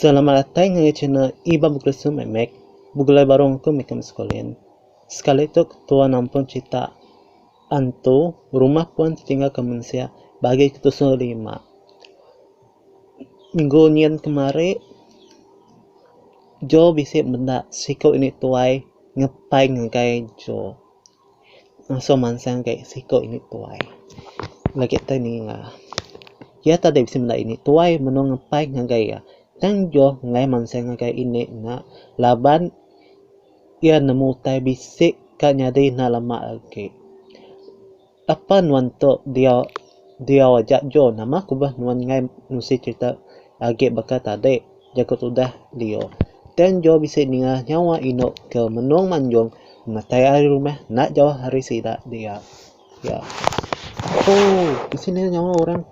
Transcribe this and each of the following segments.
Selamat datai ngagai channel Iban Bekeresu Mek Mek. Begulai baru ngaku meh ke Meskolen. Sekali tu ketua nampun cerita antu rumah puan ditinggalka mensia bagi ke tusung rima. Minggu nyin kemari, Jo bisi meda siku indi tuai ngepai ngagai Jo. Ngasuh mansang gai siku indi tuai. Lagi tu ninga. Iya tau deh bisi meda indi tuai menu ngepai ngagai iya. Tang Jo ngelai mansang ngagai indi nya laban iya nemu utai bisi ka nyadi enda lama agi. Apan nuan tu diau diau aja jo nama ku beh nuan ngai nusi cerita agi baka tadi jaku tudah lio tang jo bisi ninga nyawa inu ke menung manjung matai ari rumah enda jauh ari sida dia ya ooh bisi ninga nyawa orang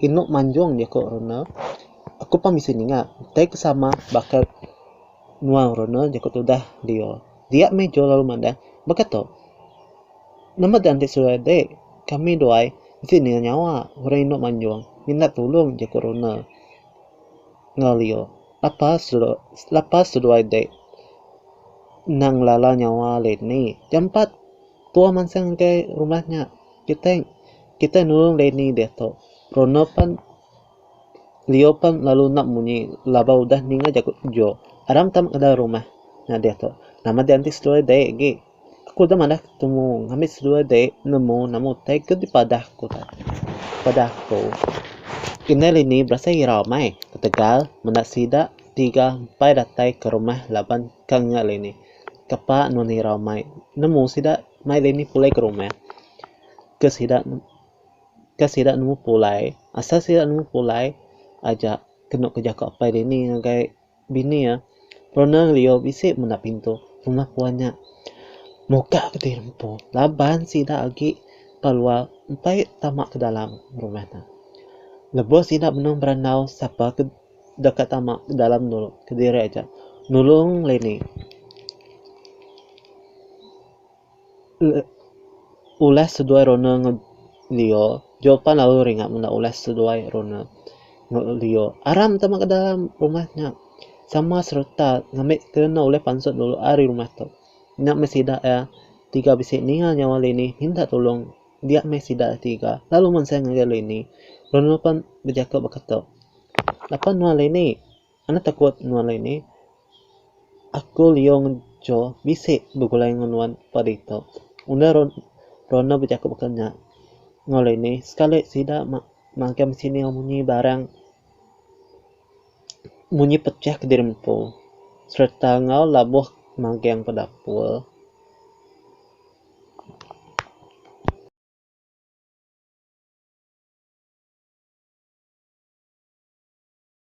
inu manjung jaku rene aku pun bisi ninga tai ke sama baka nuan rene jaku tudah lio. Dia meh jol lalu madah, bekata, Nama dang ti surai dik, kami duai mesti ninga nyawa orang indu manjung minta tulung jaku runa enggau lio lapas lapas seduai dik endang ngelala nyawa lain ni. Jampat tua mansang ngagai rumah nya kitai kitai nulung lain ni diatu runa pan. Lio pan lalu nap munyi laba udah ninga jaku jo. Aram tam kedai rumah nadeh tu. Nama deh enti seduai dei agi. Aku udah madah ketemu ngamit seduai dei nemu nama utai ke dipadah ku tai. Padah ku indai lini berasai irau amai ketegal menda sida tiga empai datai ke rumah laban ka ngingat lini. Kepa nun irau amai nemu sida mai lini pulai ke rumah ke sida Ka sida nemu pulai, asal sida nemu pulai aja kenu ke jaku apai dini ngagai bini iya. Pernah ngeliu bisi menda pintu rumah puan nya muka ke ti empu laban sida agi ba luar empai tama ke dalam rumah nya. Lebuh sida benung berandau sapa ke deka tama ke dalam dulu kediri aja nulung leni. Ulah seduai rona ngelio jok pan lalu ringa menda ulah seduai rona ngelio aram tama ke dalam rumah nya sama sereta ngambi kena ulih pansut dulu ari rumah tu nya meh sida iya tiga bisi ninga nyawa dini minta tulong dia meh sida tiga lalu menseng ngagai dini lalu pan bejaku baka tu lapan nua dini. Enda takut nuan alai ni. Aku Lio ngejo bisi begulai enggau nuan padi tu. Enda Ronda bejaku baka nya. Enggau alai ni, sekali sida magang bisi ni munyi barang munyi pecah ke diri empu sereta enggau labuh magang ba dapur.